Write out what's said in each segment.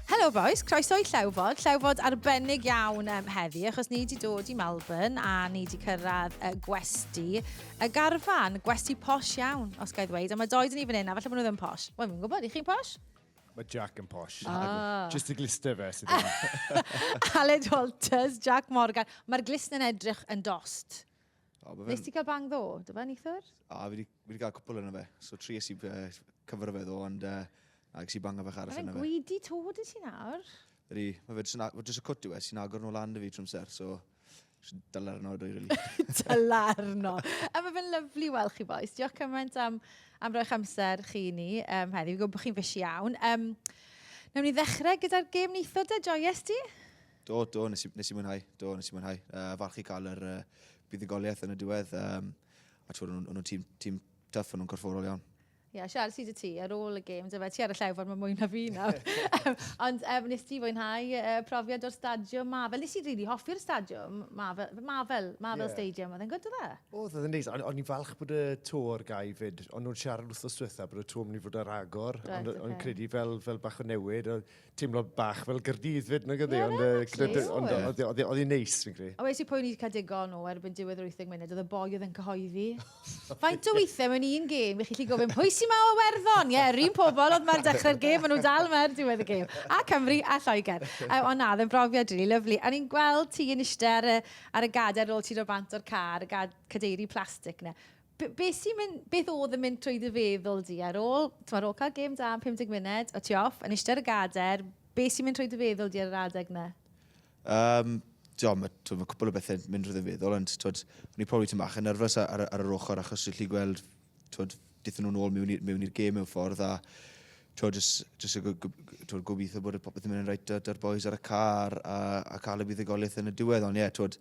Helo boys, croeso i Llewfod. Llewfod arbennig iawn um, heddi, achos ni wedi dod i Melbourne a ni wedi cyrraedd uh, gwesti y garfan, gwesti posh iawn, os gael ddweud. A mae doed yn ni fan hyn, a falle bod nhw ddim posh. Wel, mi'n gwybod, i chi'n posh? Mae Jack yn posh. Ah. Just y glister fe sydd yma. Aled Walters, Jack Morgan. Mae'r glisn yn edrych yn dost. O, ma fe'n- Nes ti cael bang ddo, do fe, neithwr? O, fi wedi fi wedi cael cwpl yna fe. So, tri ys i uh, cyfer fe ddo, ond uh, ac si banga fach Mae arall fe'n yna fe. gweidi to, dy ti nawr? Ydy, mae fe jyst yn a- mae jyst y cwt yw e, sy'n agor nhw lan dy fi trwy'n ser, so... jyst Dylar yno, dwi, really. Talarno. A mae fe'n lyflu weld chi boys. Diolch cymaint am, am roi'ch amser chi i ni um, heddi. Fi'n gwybod bod chi'n fysi iawn. Um, Nawn ni ddechrau gyda'r gêm neitho de, joyous di? Do, do, nes i, nes i mwynhau. Do, nes i mwynhau. Uh, falch i cael yr uh, buddugoliaeth yn y diwedd. Um, a ti'n nhw'n nhw tîm, tîm tuff, nhw'n corfforol iawn. Ie, yeah, Siarad sydd y ti ar ôl y gêm, dyfa ti ar y llewfod mae mwy na fi nawr. Ond um, nes ti fwynhau uh, profiad o'r stadiwm ma. Fel nes i rili really hoffi'r stadiwm ma, fel, ma, fel, ma, fel yeah. stadiwm, oedd e'n gwrdd dda? O, oedd e'n neis, ond i'n falch bod y to o'r gau fyd, ond nhw'n siarad wrth o'r diwetha bod y to yn mynd i fod ar agor, ond right, okay. credu fel, fel bach o newid, teimlo bach fel gyrdydd fyd nag ydi, ond oedd hi'n neis, fi'n credu. A wedi pwy'n i'r cadigon o erbyn diwedd yr 80 munud, oedd y boi oedd yn cyhoeddi. Faint o weithiau mewn un gêm, ych chi chi gofyn, pwy sy'n ma o werddon? Ie, rhywun pobl oedd ma'r dechrau'r gêm, maen nhw dal mae'r diwedd y gêm. A Cymru, a Lloegr. Um, ond na, ddim brofiad rili, really, lyflu. A ni'n gweld ti yn eistedd ar y, ar y gader ar ôl ti ro bant o'r car, y gad, cadeiri plastig na. B- be sy'n mynd... beth oedd yn mynd trwy dy feddwl di ar ôl, timod, ar ôl cael gêm da am 50 munud, o ti off, yn eistedd ar y gadair, be sy'n mynd trwy dy feddwl di ar yr adeg na? Um, Dio, mae ma cwpl o bethau mynd rydyn feddwl, ond twyd, o'n i probably tyn bach yn nerfus ar, ar yr ochr achos dwi'n lli gweld twyd, dithyn nhw'n ôl mewn i'r gêm mewn ffordd a twyd, jyst, jyst twyd, gobeithio bod y popeth yn mynd yn rhaid da'r boys ar y car a, a cael y buddugoliaeth yn y diwedd, ond ie, yeah, twyd,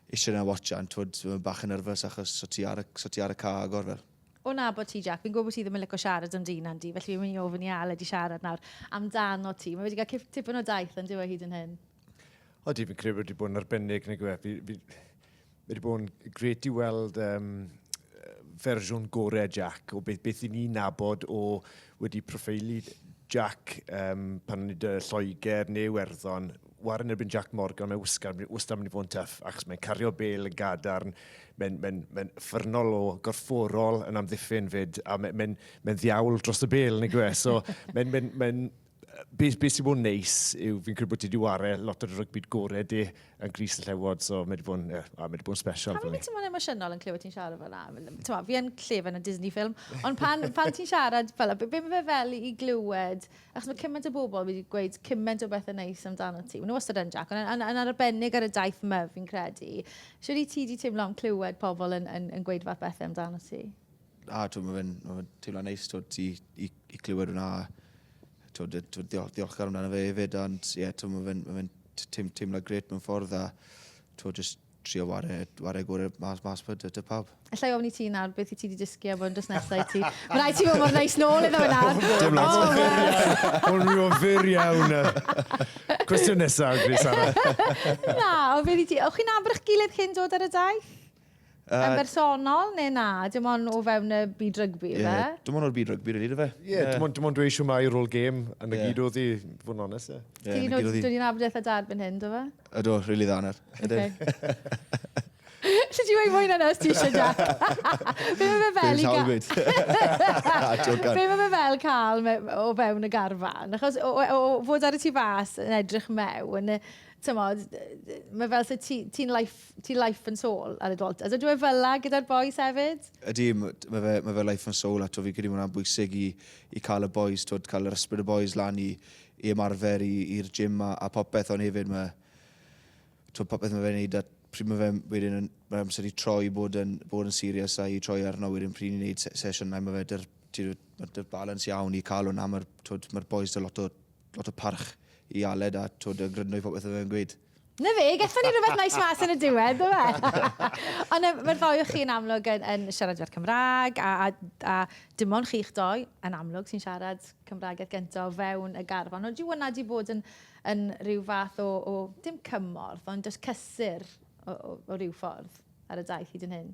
eistedd yna watchan, twyd, so mae'n bach yn nerfus achos so ti ar y, so ti ar y car agor fel. O na bod ti, Jack, fi'n gwybod bod ti ddim yn licio siarad am dyn Andy, felly fi'n mynd i ofyn i Aled i siarad nawr amdano ti. Mae wedi cael tipyn o daith yn dyw e hyd yn hyn. O, di, fi'n credu bod wedi bod yn arbennig, neu gwe. Fi, fi, wedi bod yn gret i weld um, fersiwn gorau Jack o beth, beth i ni nabod o wedi proffeili Jack um, pan nid y Lloegr neu Werddon war yn erbyn Jac Morgan, mae Wisgan wastad mynd i fod yn tuff, achos mae'n cario bel yn gadarn, mae'n mae mae ffyrnol o gorfforol yn amddiffyn fyd, a mae'n mae mae ddiawl dros y bel, neu gwe. So, mae'n mae mae be, be sy'n bod yn neis yw fi'n credu bod ti wedi wario lot o'r rygbi gorau di yn gris y llewod, so mae wedi bod yn, yeah, mae wedi bod yn special. Pam ti'n bod yn emosiynol yn clywed ti'n siarad fel yna? Fi yn llef yn y Disney ffilm, ond pan, pan ti'n siarad fel yna, be mae fe fel i glywed Achos mae cymaint o bobl wedi gweud cymaint o bethau neis amdano ti. Mae nhw wastad yn Jac, ond yn arbennig ar y daith yma fi'n credu. Siwr i ti wedi teimlo am clywed pobl yn, yn, yn gweud fath bethau amdano ti? A, twyd, mae fe'n ma fe teimlo neis, twyd, i, i, i clywed hwnna. Twyd, twyd, diol, diolchgar amdano fe hefyd, ond ie, yeah, twyd, mae fe'n ma fe teimlo gret mewn ffordd, a twyd, just trio ware, ware gore mas, mas pa dy, dy pawb. Alla i ofni ti nawr beth i ti wedi dysgu am hwn dros nesau ti. Mae rhaid ti fod mor neis nôl iddo fe nawr. Dim lot. Oh, Hwn rhyw o fyr iawn. Cwestiwn nesaf, Gris Sara. na, o beth i ti. O'ch chi'n abrych gilydd cyn dod ar y daith? Uh, yn bersonol neu na? Dim ond o fewn y byd rygbi, yeah, fe? Dim ond o'r byd rygbi, rydyn ni, fe? Ie, yeah, dim ond, dim ond dweud siw mai rôl gêm yn y yeah. gyd oedd i, fod yn onest, ie. Yeah. Ti'n nod, dwi wedi nabod eitha dad byn hyn, do fe? Ydw, really dda nawr. Ydw. Lly ti'n gweud mwy na nes ti eisiau, Jack? Be mae fe fel i gael... Be mae fe fel cael o fewn y garfan? Achos o, o, o fod ar y tu fas yn edrych mewn, tymod, mae fel sy'n ti'n ti life, ti life and soul ar y dwalt. Ydw e fel la gyda'r boys hefyd? Ydy, mae fe, mae fe life and soul ato fi gyda mwynhau'n bwysig i, i cael y boys, twyd, cael yr ysbryd y boys lan i, i ymarfer i i'r gym a a popeth ond hefyd ma' t'wod popeth ma' fe'n neud a pryd ma' fe wedyn yn ma' amser i troi bod yn bod yn serious a i troi arno wedyn pryd ni'n neud se- sesiynau ma' fe dy'r ti t'wod ma' dy'r balans iawn i ca'l wnna ma'r t'wod ma'r bois 'da lot o lot o parch i Aled a t'wod yn gryndo i popeth ma' fe'n gweud. Na fe, gethon ni rhywbeth nice mas yn y diwedd, do fe? Ond um, mae'r ddoi o chi yn amlwg yn, yn siarad fer Cymraeg, a, a, a dim ond chi'ch doi yn amlwg sy'n siarad Cymraeg at gyntaf o fewn y garfan. Ond yw hwnna wedi bod yn, yn rhyw fath o, o dim cymorth, ond just cysur o, o, o ryw ffordd ar y daith hyd yn hyn?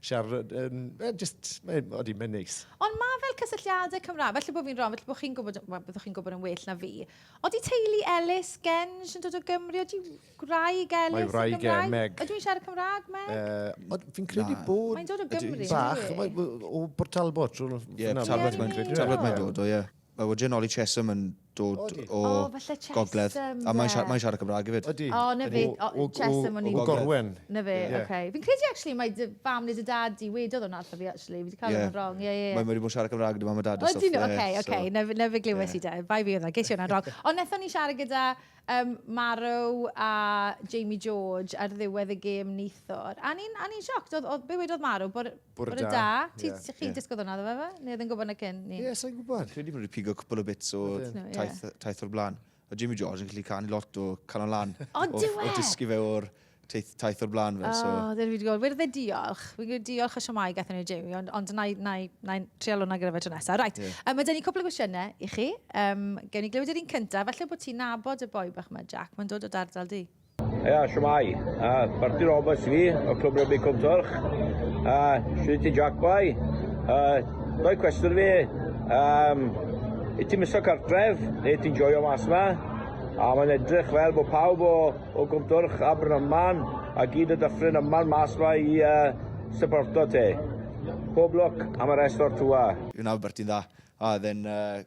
siarad, um, just, mae'n mae neis. Ond mae fel cysylltiadau Cymraeg, felly bod fi'n rhan, felly bod chi'n gwybod, well, byddwch chi'n gwybod yn well na fi. Oeddi teulu Ellis, Genge, yn dod o Gymru, oeddi gwraig Ellis yn Gymraeg? Mae wraig e, Meg. Ydw i'n siarad Cymraeg, Meg? Uh, fi'n credu bod... Mae'n dod o Gymru. Bach, o Bort Talbot. Ie, Talbot mae'n credu. Talbot mae'n dod o, ie. Mae Woodger Nolly Chesham yn dod o Gogledd. A mae'n siarad, mae'n siarad Cymraeg hefyd. Ydy. O, na fe. O, Chesham o'n i'n... O Gorwen. Na fe, oce. Fi'n credu actually mai dy fam neu dy dad di wedodd hwnna wrtho fi actually. Fi di cael hwnna'n wrong. Ie, ie, ie. Mae wedi bod yn siarad Cymraeg gyda mam a dad a stwff. Ydyn nhw, oce, oce. Na fe, na fe glywes i de. Bai fi oedd o. Ges i hwnna'n wrong. Ond nethon ni siarad gyda um, Maro a Jamie George ar ddiwedd y gêm neithwr. A ni'n, a ni'n sioct. Oedd, oedd, be wedodd Maro? Bod Bore da. Bore da. Ti, yeah, chi yeah. disgwyl hwnna, dda fe? Neu oedd yn gwybod na cyn? Ie, yeah, sa'n gwybod. Credu bod wedi pigo cwpl o bits o taith, taith o'r blaen. A Jimmy George yn gallu canu lot o canol lan. O, dwi e? O dysgu fe o'r taith, taith o'r blaen fe. So. O, dyn fi wedi gweld, wedi e diolch. Fi'n gwneud diolch y siomau gath ni Jamie, ond, ond na, na, na, trial hwnna gyda fe tro nesaf. Right, yeah. um, mae dyn ni cwpl o gwestiynau i chi. Um, Gewn ni glywed yr un cyntaf, falle bod ti'n nabod y boi bach yma, Jack, mae'n dod o dardal di. Ia, shwmae. A, Marty Roberts fi, o Clwb Rygbi Cwm Twrch. A, shwyd ti Jack Boi. A, doi cwestiwn fi. Um, I ti'n miso cartref, neu ti'n joio mas yma? A mae'n edrych fel bod pawb o, o Cwm Twrch a Brynaman a gyd y dyffryn yma'n mas yma i uh, supporto te. Pob lwc am y rest o'r tŵa. Yw'n Albert i'n dda. A, then, uh,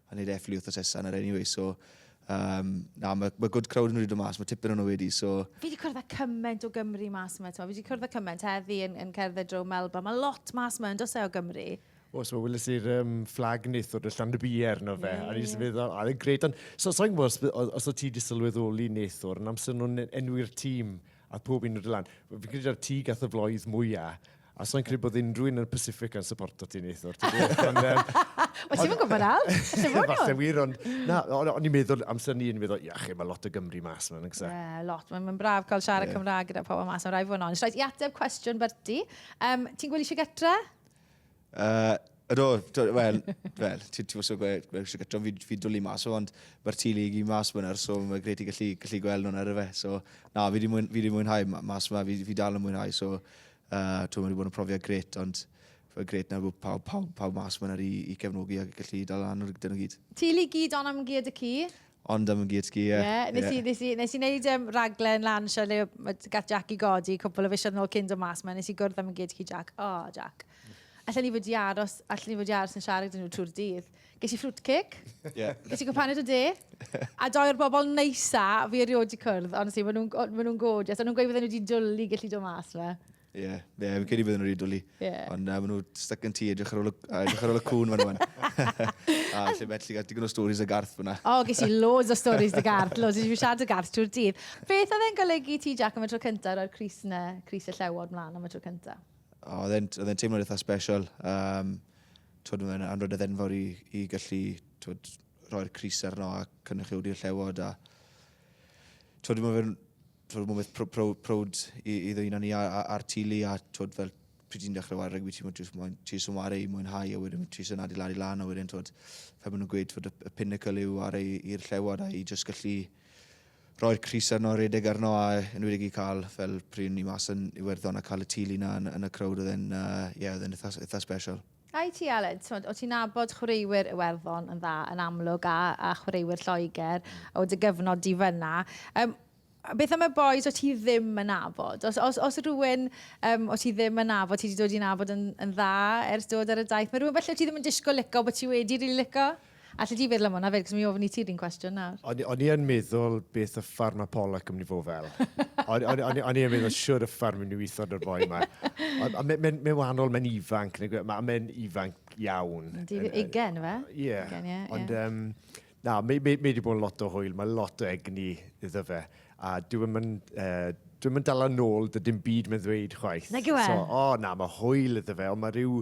A neud efflu wrth asesa yna anyway, so... Um, na, mae ma good crowd yn rhywbeth mas, mae tipyn o'n wedi, so... Fi wedi cwrdd â cymaint o Gymru mas yma, fi wedi cwrdd â cymaint heddi yn, yn cerdded dro Melba. Mae lot mas yma yn dos e o Gymru. O, so wylis i'r um, fflag nith o'r llan y bier na fe. Yeah. A ni'n feddwl, a ddi'n gred, ond so, so'n gwybod os, os o ti wedi sylweddoli nith o'r yn amser nhw'n enwi'r tîm a pob un o'r lan. Fi'n credu ar ti gath y floedd mwyaf A sa'n credu bod unrhyw un yn y Pacific yn supporto ti neithwr. Mae ti'n gwybod al? Falle wir, ond na, o'n i'n meddwl amser ni, o'n i'n meddwl, iach, mae lot o Gymru mas yma, nagsa? Ie, lot. Mae'n braf cael siarad Cymraeg gyda pobl mas, mae'n rhaid fod yn ond. Rhaid i ateb cwestiwn Berti. Um, ti'n gwylio eisiau getre? Uh, Ydw, wel, wel, ti'n ti mwysio gweud, mae eisiau gyda fi, fi dwlu mas o, ond mae'r tu lig i mas fyna, so mae greu ti gallu, gallu gweld nhw'n ar y fe. So, na, fi wedi mwyn, mwynhau mas yma, fi, fi dal yn mwynhau, so, uh, ti'n wedi bod yn profiad gret, ond fe gret na bod pawb, pawb, pawb mas fyna i, i cefnogi ac gallu dal lan o'r gydyn nhw gyd. Ti lig gyd ond am gyd y cu? Ond am y gear ski, ie. Ie, nes i, nes i, nes i wneud um, raglen lan sio le gath Jack i godi cwbl o fisioedd yn ôl cyn do mas ma, nes i gwrdd am y gear ski Jack. O, oh, Jack. Alla ni fod i aros, alla ni fod i aros yn siarad yn nhw trwy'r dydd. Ges i ffrwt cic, yeah. ges i gwpaned o de, a doi o'r bobl neisa fi erioed wedi cwrdd, ond si, maen nhw'n ma nhw gorgeous, a nhw'n gweud fydden nhw wedi dwlu gallu dod mas fe. Ie, yeah, yeah, fi'n credu bod yn rhaid dwlu. Yeah. Ond uh, maen nhw stuck yn ti, edrych ar ôl y cwn fan nhw'n. A lle beth, lle gael digon o stories y garth fyna. O, ges i loads o stories y garth, loads i siarad y garth trwy'r dydd. Beth oedd e'n golygu ti, Jack, am y tro cyntaf o'r Cris yna, Cris y Llewod mlaen am y tro cyntaf? O, oedd e'n teimlo'n eitha special. Um, twyd, oedd e'n anrod y ddenfawr i, i gallu twyd, rhoi'r Cris arno a cynnychiwdi'r Llewod. A, twyd, mae fe'n twod ma'n beth pro, pro, prowd i, i ddwyna ni ar, ar, ar tili a twod fel pryd ti'n dechrau wario rygbi ti'n mwyn jyst moyn ti sy'n wario i mwynhau a wedyn ti sy'n adeiladu lan a wedyn twod fel maen nhw'n gweud twod y, y pinnacle yw ar ei i'r llewod a i jyst gallu roi'r Cris arno, redeg arno a yn wedi i cael fel pryd ni mas yn Iwerddon a cael y tili na yn, yn y crowd oedd e'n uh, yeah, oedd e'n eitha, eitha special. A i ti Aled, t'mod, o' ti'n nabod chwaraewyr Iwerddon yn dda yn amlwg a, a chwaraewyr Lloegr o dy gyfnod di fyna. Um, beth am y boys o ti ddim yn nabod? Os, os, os rhywun um, o ti ddim yn nabod, ti wedi dod i nabod yn, yn dda ers dod ar y daith, mae rhywun felly o ti ddim yn disgwyl lico bod ti wedi rili really lico? Allet ti feddwl am hwnna 'fyd, cos mi ofn i ti'r un cwestiwn nawr. O'n, o'n i yn meddwl beth y ffarm a Pollock yn mynd i fod fel. o'n, o'n, o'n, o'n i yn meddwl siwr y ffarm yn mynd i weithio o'r boi yma. Ond mae'n me, me wahanol, mae'n ifanc, mae'n ifanc iawn. Di ugen, fe? Ie. Yeah. Ugen, ie. Ond, yeah. um, na, mae wedi bod yn lot o hwyl, mae lot o egni iddo fe. A dwi'n mynd, uh, dwi'n mynd dal yn ôl, dydyn byd mae'n ddweud chwaith. Nag yw e? So, o, oh, na, mae hwyl iddo fe, ond mae rhyw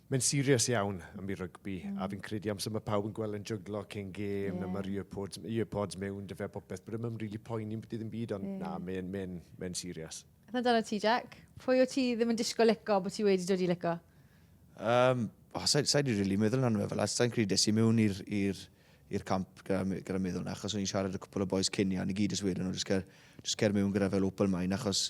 Mae'n serious iawn am i rygbi, mm. a fi'n credu amser mae pawb yn gweld yn jyglo cyn gêm, yeah. mae'r earpods, earpods mewn, dy fe popeth, bod ddim really poeni beth ddim byd, ond yeah. na, mae'n mae mae serious. A dyna ti, Jack? Pwy o ti ddim yn disgo leco bod ti wedi dod i leco? Um, oh, sa'i sa di really meddwl na'n meddwl, sa'n credu des i mewn i'r camp gyda, gyda meddwl na, achos o'n i'n siarad y cwpl o boys cyn i, a ni gyd ys wedyn, o'n just cer mewn gyda fel open mind, achos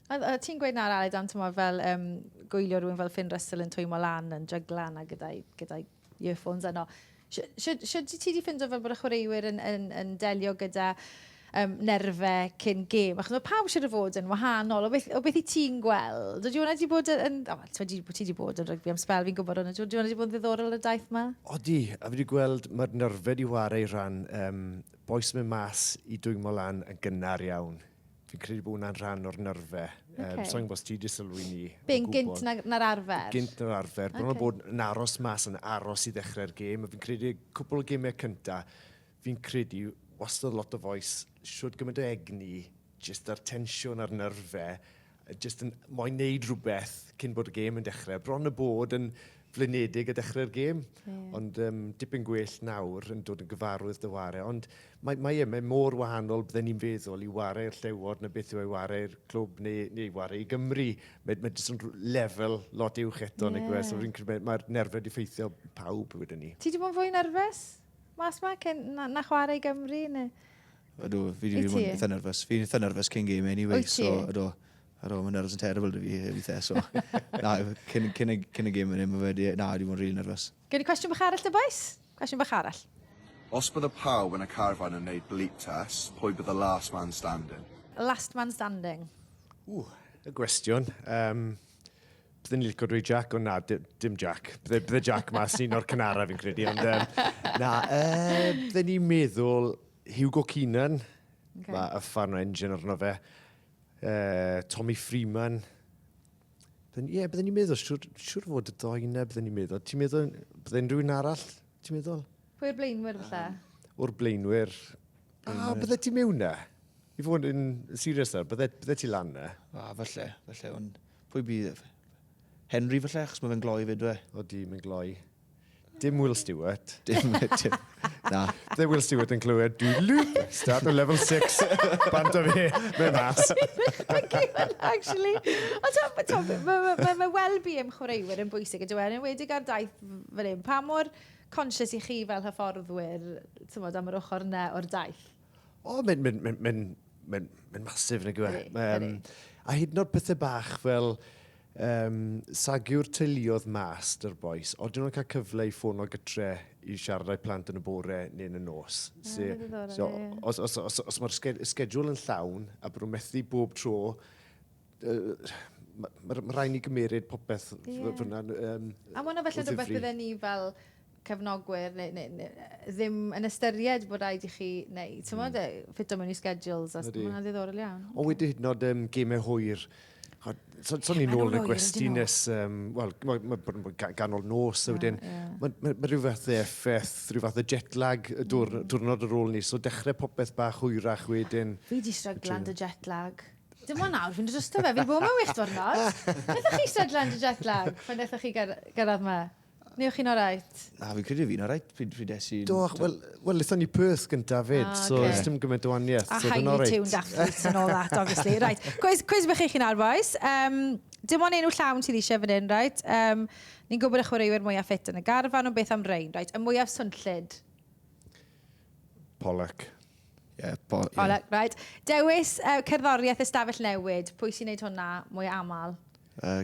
Oedd, oedd ti'n gweud na'r Aled am tymor fel um, gwylio rhywun fel Finn Russell yn twymo lan, yn jygla na gyda'i, gyda'i earphones yno. Sut ti wedi ffindo fel bod y chwaraewyr yn, yn, yn delio gyda um, nerfau cyn gêm. Achos mae pawb sydd wedi fod yn wahanol. O beth, o beth i ti'n gweld? Ydy hwnna wedi bod yn... O, oh, ti wedi bod yn rygbi am spel, fi'n gwybod hwnna. Ydy hwnna wedi bod yn ddiddorol y daith yma? Odi, a fi wedi gweld mae'r nerfau wedi wario i ran um, boes mewn mas i dwymo lan yn gynnar iawn. Fi'n credu bod hwnna'n rhan o'r nyrfe. Okay. Um, So'n gwybod ti wedi sylwi ni. Be'n gynt na'r na arfer? Gynt na'r arfer. Okay. Bron o bod yn aros mas, yn aros i ddechrau'r gêm. Fi'n credu cwpl o gymau cynta, fi'n credu wastad lot o foes, siwr gymaint o egni, jyst ar tensiwn ar nyrfe, jyst yn moyn neud rhywbeth cyn bod y gêm yn dechrau. Bron y bod yn flinedig a dechrau'r gêm. Ie. Ond um, dipyn gwell nawr yn dod yn gyfarwydd dy ware. Ond mae, mae, e, mae mor wahanol bydden ni'n feddwl i ware i'r llewod na beth yw ei ware i'r clwb neu, neu ware i Gymru. Mae, mae jyst yn lefel lot uwch eto. Yeah. Neu, so mae, mae'r nerfau wedi ffeithio pawb wedyn ni. Ti wedi bod yn fwy nerfus mas ma cyn, na, na chwarae i Gymru? Neu... Ydw, fi wedi bod yn eitha nerfus. Fi'n eitha nerfus cyn game anyway. Wyt ti? So, ydw. Ar ôl, mae'n nervous yn terrible da fi weithiau, so... na, cyn, cyn, cyn y gym yn hyn, mae wedi... Na, wedi bod yn rili nervous. Gen i cwestiwn bach arall da, boys? Cwestiwn bach arall. Os bydde pawb yn y carfan yn neud bleep test, pwy bydde last man standing? Last man standing. Ww, y gwestiwn. Um, bydde ni'n licio dweud Jack, ond na, dim Jack. Bydde, bydde Jack mas un o'r cynara fi'n credu, ond um, na, uh, bydde ni'n meddwl Hugo Keenan, okay. mae y fan o engine arno fe. Uh, Tommy Freeman. Ie, yeah, byddwn ni'n meddwl, siwr, siwr fod y doi yna, byddwn ni'n meddwl. Ti'n meddwl, byddwn rhywun arall, ti'n meddwl? Pwy o'r blaenwyr falle? Um, o'r blaenwyr. A, ah, bydde ti mewn na? I fod yn serious nawr, bydde, bydde ti lan na? A, ah, falle, falle, ond pwy bydd? Henry falle, achos mae fe'n gloi fyd fe. O di, mae'n gloi. Dim Will Stewart. Dim, dim. Na. Dde Will Stewart yn clywed dwi lŵp, start o level 6, band o fe, fe mas. Actually, o ta, ta, mae ma, ma, ma well-being chwaraewyr yn bwysig, ydw e'n enwedig ar daith fel un. Pa mor conscious i chi fel hyfforddwyr, ti'n am yr ochr yna o'r daith? O, oh, mae'n mynd, mynd, mynd, mynd, mynd masif, nag yw e. Um, a hyd yn oed pethau bach fel, Yym, sagiwr teuluodd Mas, dy'r bois. Odyn nhw'n cael cyfle i ffono gytre i siarad â'u plant yn y bore neu yn y nos. Ah, so, ddiddorol, so, ie. Os, os, os, os mae'r sged, sgedwl yn llawn a bod nhw'n methu bob tro, uh, mae ma, ma rhaid ni gymeryd popeth yeah. fyna. Um, a mae hwnna felly rhywbeth bydden ni fel cefnogwyr neu, neu, neu ddim yn ystyried bod rhaid i chi wneud. Ti'n mm. E, ffito mewn i schedules. Mae hwnna'n ddiddorol iawn. O, wedi hyd yn oed um, gemau hwyr. So, so ni'n ôl yn y gwesti nes, um, wel, mae ma, ma, ma ganol nos a wedyn, yeah. mae ma, ma rhyw fath o effaith, rhyw fath o jet lag y dwr, mm. diwrnod ar ôl ni, so dechrau popeth bach hwyrach wedyn. Fi di stryglan dy jet lag. Dim ond nawr, fi'n drysto fe, fi'n bod mewn wych diwrnod. Ydych chi stryglan dy jet lag pan ydych chi gyrraedd yma? Neu o'ch chi'n alright? Na, fi'n credu fi'n alright pryd, pryd es i'n... Do, wel, well, lithon ni Perth gyntaf fyd, ah, so okay. dim gymaint o waniaeth. A so highly tuned athletes and all that, obviously. right, cwys, cwys bych i chi'n arfoes. Um, dim ond enw llawn sydd eisiau fan hyn, right? Um, ni'n gwybod y chwaraewyr mwyaf ffit yn y garfan, ond beth am rein, right? Y mwyaf swnllid? Pollock. Yeah, po, yeah. Pollock, right. Dewis uh, cerddoriaeth ystafell newid. Pwy sy'n neud hwnna mwy aml? Uh,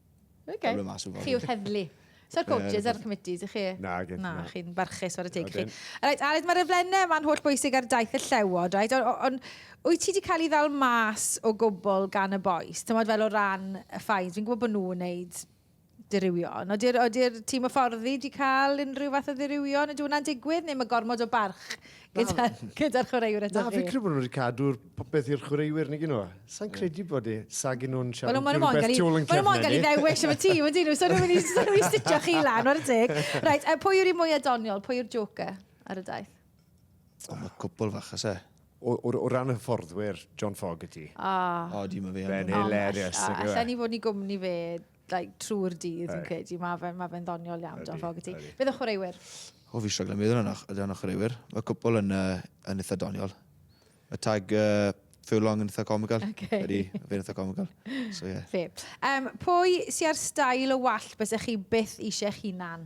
Okay. Chi yw'r heddlu. So'r coaches a'r committees i chi? Na, gen Na, chi'n barchus ar y teg chi. Right, Aled, mae'r eflennau yma'n holl bwysig ar daith y llewod, right? Ond on, wyt ti wedi cael ei ddal mas o gwbl gan y boes? Tymod fel o ran y ffains, fi'n gwybod bod nhw'n wneud diriwion. Ody'r odi tîm o fforddi wedi cael unrhyw fath o ddirywion? Ydy hwnna'n digwydd neu mae gormod o barch gyda'r gyda chwaraewr eto? Na, fi'n credu bod nhw wedi cadw'r popeth i'r chwaraewyr nag nhw. Sa'n credu bod e, sa gen nhw'n siarad well, no, rhywbeth tu ôl yn cefn. Mae'n mo'n gael ei ddewis am y tîm, ydyn nhw. So nhw'n mynd i stitio chi lan o'r teg. Right, a pwy yw'r un mwyaf doniol? Pwy yw'r joker ar y daith? O, mae cwbl fach as e. O, o, o ran y fforddwyr, John Fogarty. Ah. O, dim yn fe. Fe'n hilarious. Allan ni fod ni gwmni fe like, trwy'r dydd, fi'n credu. Mae fe'n ma fe ddoniol iawn, John Fogarty. Bydd y chwaraewyr? O, fi siogl yn meddwl yna, ydy yna chwaraewyr. Mae cwpl yn, uh, yn eitha doniol. Mae tag uh, Furlong yn eitha comical. Okay. Ydy, fe'n eitha comical. So, yeah. Fe. Um, pwy sy'n ar stael o wallt bys chi byth eisiau chi nan?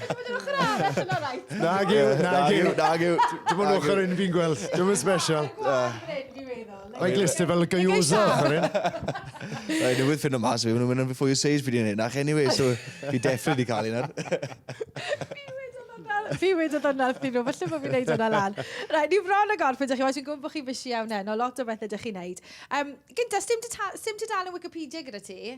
Ti'n mynd yr ochr arall yn alright? Nag yw, nag yw, nag yw. Dim ond ochr un fi'n gweld, dim yn special. Mae'n glister fel y gaiosa ochr un. Mae'n newid ffyn o mas fi, mae'n mynd yn fwy o seis fi di'n hyn. Ach, anyway, so fi definitely cael un ar. Fi wedi dod yna wrthyn nhw, felly bod fi'n neud yna lan. Rai, ni fron o gorff, ydych chi, oes yn gwybod bod chi'n fysi iawn heno, lot o bethau ydych chi'n neud. Um, gynta, sdim, sdim tudalen Wikipedia gyda ti?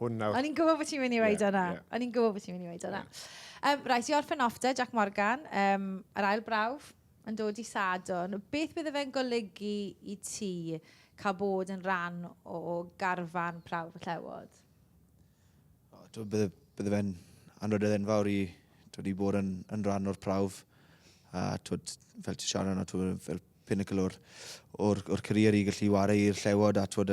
Hwn nawr. O'n i'n gwybod bod ti'n mynd i weid yeah, o'na. Yeah. O'n i'n gwybod bod ti'n mynd i weid o'na. Yeah. Um, Rais i orffen off da, Jack Morgan, um, yr ail brawf yn dod i Sadwn. Beth bydd fe'n golygu i ti cael bod yn rhan o, o garfan prawf y llewod? Oh, bydde, bydde fe'n anrhydedd enfawr i dod i bod yn, yn rhan o'r prawf. A twyd, fel ti siarad yna, twyd, fel pinnacle o'r, or, or career i gallu wario i'r llewod a twyd,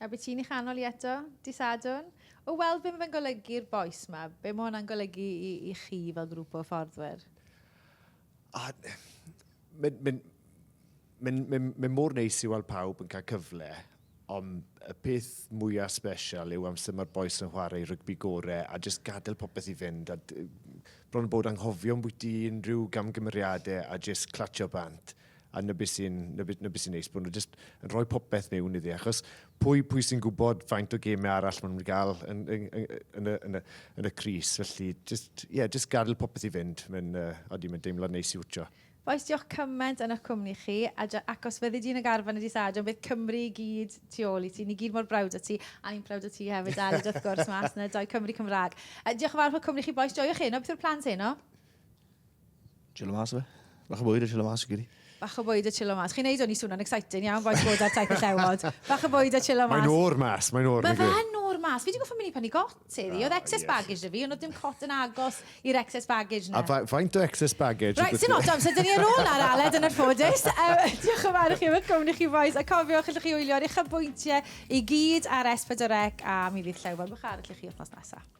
A be ti'n ei chanol i eto, dy Sadwrn? O weld be mae fe'n golygu i'r bois ma. Be mae hwnna'n golygu i, i chi fel grŵp o fforddwyr? A, mae'n ma ma ma ma mor neis i weld pawb yn cael cyfle, ond y peth mwyaf special yw amser mae'r boes yn chwarae rygbi gore a jyst gadael popeth i fynd. A, bron bod anghofio ambwyty unrhyw gamgymeriadau a jyst clatio bant. a 'na be sy'n 'na be 'na be sy'n neis bo' nw jyst yn rhoi popeth mewn iddi achos pwy pwy sy'n gwbod faint o geme arall ma' nw'n ga'l yn yn yn yn y yn y yn y crys felly jyst ie yeah, jyst gadel popeth i fynd mae'n yy odi mae'n deimlad neis i wtsio. Oes diolch cyment yn ych cwmni chi a dy acos fyddi di'n y garfan y dydd Sadwrn bydd Cymru i gyd tu ôl i ti ni gyd mor browd o ti a ni'n prowd o ti hefyd Aled wrth gwrs mas na dau Cymru Cymraeg. Yy diolch yn fawr am y cwmni chi bois joiwch heno beth yw'r plans heno? Chilo mas fe. Bach o bwyd a chilo mas i gyd. Bach o bwyd a chilo mas. Chi'n neud o'n i swnio'n exciting iawn, boes bod ar taith y llewod. Bach o bwyd a chilo mas. Mae'n o'r mas, mae'n o'r mas. Mae fe'n o'r mas. Fi wedi goffa mynd i penny got, Teddy. Oedd excess yes. baggage da fi, ond oedd dim cot yn agos i'r excess baggage na. A faint o excess baggage? Right, sy'n odd amser, dyn ni ar ôl ar Aled yn yr ffodus. Diolch yn fawr i chi am eich cwmni chi, boes. A cofiwch, allwch chi wylio'r eich bwyntiau i gyd ar S4C a mi fydd llewod bych ar allwch chi wythnos nesaf.